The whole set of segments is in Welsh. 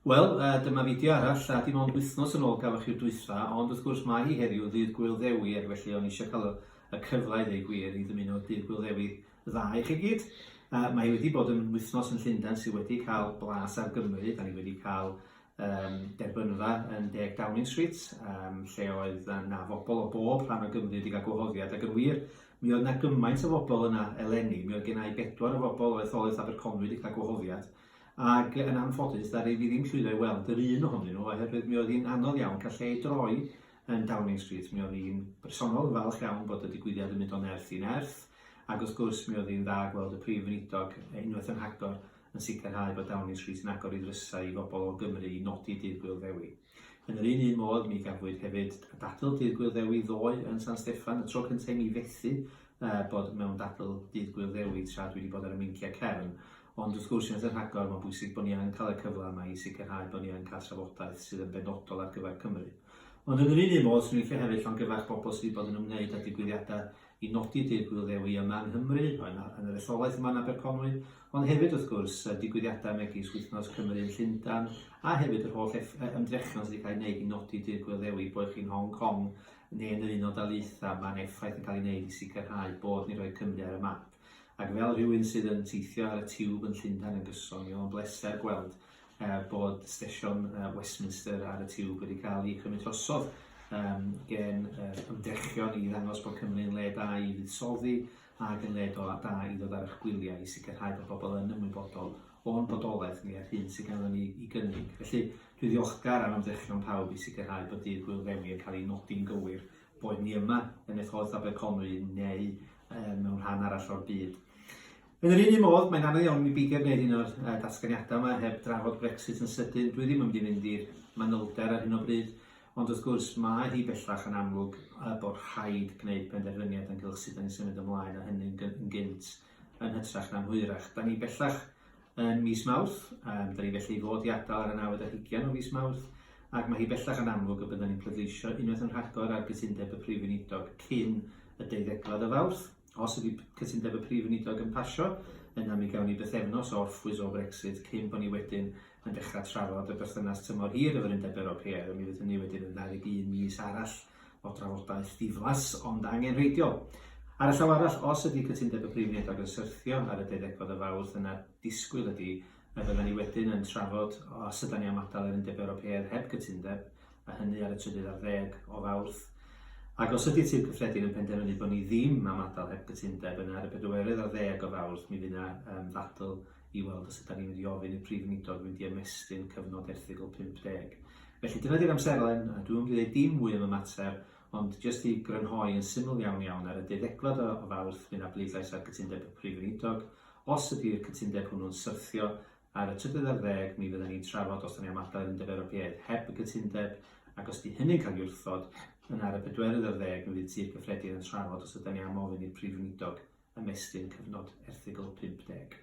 Wel, uh, dyma fideo arall, a dim ond wythnos yn ôl gafwch chi'r dwytha, ond wrth gwrs mae hi heddiw ddydd Gwyl Ddewi, ac felly o'n eisiau cael y cyfle i ddweud gwir i ddymuno dydd Gwyl Ddewi dda i chi gyd. Uh, mae wedi bod yn wythnos yn Llundain sydd wedi cael blas ar Gymru, da ni wedi cael um, derbynfa yn deg Downing Street, um, lle oedd na fobl o bob rhan o Gymru wedi cael gwahoddiad, ac yn wir, mi oedd na gymaint o fobl yna eleni, mi oedd gennau bedwar o fobl o etholaeth Aberconwy wedi cael gwahoddiad, ac yn anffodus ddaru fi ddim llwyddo i weld yr un ohonyn nhw oherwydd mi oedd hi'n anodd iawn cael lle i droi yn Downing Street. Mi oedd hi'n bersonol yn falch iawn bod y digwyddiad yn mynd o nerth i nerth ac wrth gwrs mi oedd hi'n dda gweld y Prif Weinidog unwaith yn hagor yn sicrhau bod Downing Street yn agor ei ddrysau i bobl o Gymru i nodi Dydd Gŵyl Ddewi. Yn yr un un modd, mi gafwyd hefyd dadl Dydd Gŵyl Ddewi ddoe yn San Steffan, y tro cyntaf i mi fethu uh, bod mewn dadl Dydd Gŵyl Ddewi tra dwi wedi bod ar y meinciau cefn. Ond wrth gwrs, unwaith yn rhagor, mae'n bwysig bod ni yn cael y cyfle yma i sicrhau bod ni yn cael trafodaeth sydd yn benodol ar gyfer Cymru. Ond yn yr un un modd, swn i'n licio hefyd llongyfarch bobl sydd wedi bod yn ymwneud â digwyddiadau i nodi Dydd Gŵyl Ddewi yma yng Nghymru, yn yn yr etholaeth yma yn Aberconwy, ond hefyd wrth gwrs y digwyddiadau megis Wythnos Cymru yn Llundain, a hefyd yr holl eff- yy ymdrechion sydd wedi cael eu gwneud i nodi Dydd Gŵyl Ddewi, boed chi'n Hong Kong neu yn yr Unol Daleithiau, mae'n effaith yn cael ei wneud i sicrhau bod ni'n rhoi Cymru ar y map. Ac fel rhywun sydd yn teithio ar y tiwb yn Llundain yn gyson, mi oedd o'n bleser gweld Er bod stesion Westminster ar y tiwb wedi cael ei chymryd drosodd gen yr ymdrechion i ddangos bod Cymru yn le da i fuddsoddi ac yn le da i ddod ar eich gwyliau i sicrhau bod pobl yn ymwybodol o'n bodolaeth ni a'r hyn sydd ganddo ni i gynnig. Felly, dwi ddiolchgar am ymdrechion pawb i sicrhau bod Dydd Gŵyl Ddewi yn cael ei nodi'n gywir, boed ni yma yn etholaeth Aberconwy neu mewn rhan arall o'r byd. Yn yr un un modd, mae'n anodd iawn i mi beidio gwneud un o'r uh, datganiadau yma heb drafod Brexit yn sydyn. Dwi ddim yn mynd i fynd i'r manylder ar hyn o bryd, ond wrth gwrs mae hi bellach yn amlwg uh, bod rhaid gwneud penderfyniad ynghylch sut da ni'n symud ymlaen a hynny'n gynt yn hytrach na'n hwyrach. Da ni bellach yn mis Mawrth, um, da ni felly i fod i adael ar y 9 o fis Mawrth, ac mae hi bellach yn amlwg y byddwn ni'n pleidleisio unwaith yn rhagor ar gytundeb y Prif Weinidog cyn y deuddegfad o Fawrth. Os ydy cytundeb y Prif Weinidog yn pasio, yna mi gawn ni bythefnos o orffwys o Brexit cyn bod ni wedyn yn dechrau trafod y berthynas tymor hir efo'r Undeb Ewropeaidd, a mi fydd hynny wedyn yn 21 mis arall o drafodaeth diflas ond angenrheidiol. Ar y llaw arall, os ydy cytundeb y Prif Weinidog yn syrthio ar y deuddegfed o Fawrth, yna disgwyl ydy A fyddan ni wedyn yn trafod os ydan ni am adael yr Undeb Ewropeaidd heb gytundeb, a hynny ar y trydydd ar ddeg o Fawrth. Ac os ydi'r Tŷ'r Cyffredin yn penderfynu bod ni ddim am adael heb gytundeb, yna ar y bedwerydd ar ddeg o Fawrth mi fydd yna yym ddadl i weld os ydan ni'n mynd i ofyn i'r Prif Weinidog fynd i ymestyn cyfnod erthygl 50. Felly dyna di'r amserlen, a dwi'm yn mynd i ddeud dim mwy am y mater, ond jyst i grynhoi yn syml iawn iawn, ar y deuddegfad o Fawrth fydd 'na bleidlais ar gytundeb y Prif Weinidog, Os ydy'r cytundeb hwnnw'n syrthio, ar y trydydd ar ddeg, mi fyddan ni'n trafod os 'da ni am adael i'r Undeb Ewropeaidd heb y cytundeb, ac os 'di hynny'n cael ei wrthod, yna ar y bedwerydd ar ddeg, mi fydd Tŷ'r Cyffredin yn trafod os ydan ni am ofyn i'r Prif Weinidog ymestyn cyfnod erthygl 50.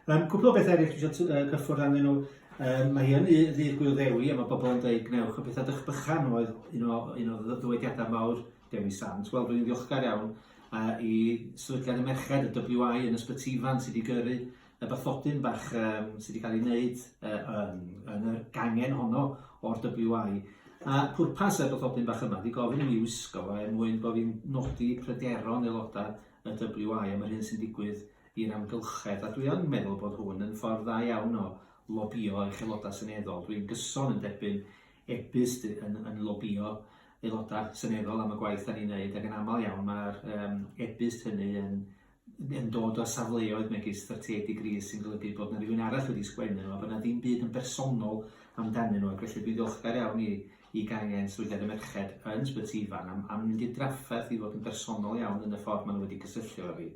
Yym, cwpl o bethau eraill dwi eisiau yy cyffwrdd arnyn nhw. Yym, mae yn ddy- ddydd Gŵyl Ddewi a mae bobl yn dweud gwnewch y pethau dych bychan oedd un o un o ddy- ddywediadau mawr Dewi Sant. Wel, rwy'n ddiolchgar iawn uh, i sefydliad y merched, y WI, yn Ysbyty Ifan, sydd wedi gyrru y bathodyn bach um, sydd wedi cael ei wneud uh, yn, yn y gangen honno o'r WI. A pwrpas y bathodyn bach yma, wedi gofyn i mi wisgo fo er mwyn bod fi'n nodi pryderon aelodau y WI am yr hyn sy'n digwydd i'r amgylchedd. A dwi yn meddwl bod hwn yn ffordd dda iawn o lobio eich aelodau seneddol. Dwi'n gyson yn derbyn e-byst yn, yn lobio aelodau seneddol am y gwaith da ni'n neud, ac yn aml iawn mae'r um, e-byst hynny yn, yn dod o safleoedd megis 38 degrees sy'n golygu bod yna rhywun arall wedi sgwennu nhw, a bod yna ddim byd yn bersonol amdanyn nhw, ac felly dwi'n ddiolchgar iawn i, i gangen sefydliad y merched yn Sbyty Ifan am, am mynd i'r drafferth i fod yn bersonol iawn yn y ffordd maen nhw wedi cysylltu efo fi,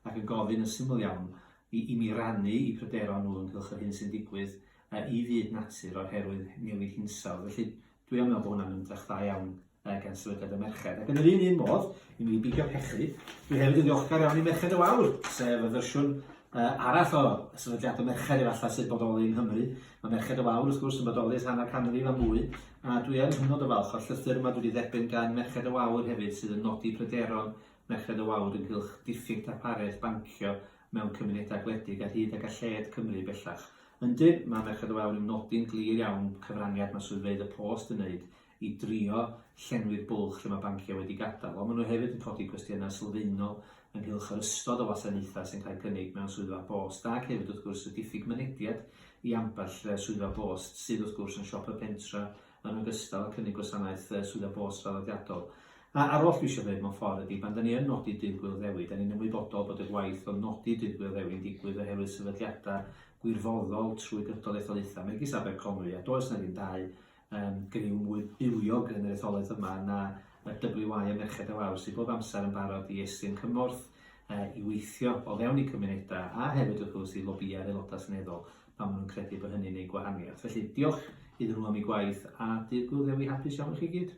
ac yn gofyn yn syml iawn i, i mi rannu i pryderon nhw ynghylch yr hyn sy'n digwydd yy, i fyd natur oherwydd newid hinsawdd. Felly, dwi am meddwl bod hwnna'n ymdrech dda iawn uh, gan sefydliad y merched. Ac yn yr un un modd, i mi bigio pechu, dwi hefyd yn ddiolchgar iawn i Merched y Wawr, sef y fersiwn uh, arall o sefydliad y merched efallai sy'n bodoli yng Nghymru. Mae Merched y Wawr, wrth gwrs, yn bodoli ers hanner canrif a mwy, a dwi yn hynod o falch o'r llythyr yma dwi wedi dderbyn gan Merched y Wawr hefyd sydd yn nodi pryderon Merched y Wawr ynghylch diffyg darpariaeth bancio mewn cymunedau gwledig ar hyd a galled Cymru bellach. Yndi, mae Merched y Wawr yn nodi'n glir iawn cyfraniad mae swyddfeydd y post yn wneud i drio llenwi'r bwlch lle mae banciau wedi gadael, ond maen nhw hefyd yn codi cwestiynau sylfaenol ynghylch yr ystod o wasanaethau sy'n cael eu cynnig mewn swyddfa bost ac hefyd wrth gwrs y diffyg mynediad i ambell swyddfa bost sydd wrth gwrs yn siop y pentre Yn ogystal, cynnig gwasanaeth Swyddfa Bos draddodiadol. A'r oll dwi eisiau dweud mewn ffordd ydy, pan 'da ni yn nodi Dydd Gŵyl Ddewi, 'da ni'n ymwybodol bod y gwaith o nodi Dydd Gŵyl Ddewi'n digwydd oherwydd sefydliadau gwirfoddol trwy gydol etholaethau megis Aberconwy, a does 'na ddim dau um, griw mwy bywiog yn yr etholaeth yma na y WY a Merched a Wawr sydd bob amser yn barod i estyn cymorth uh, i weithio o fewn i cymunedau a hefyd wrth gwrs i lobïau'r aelodau seneddol. pan maen nhw'n credu bod hynny'n eu gwahaniaeth. Felly, diolch iddyn nhw am eu gwaith, a Dydd Gŵyl Ddewi hapus iawn i chi gyd.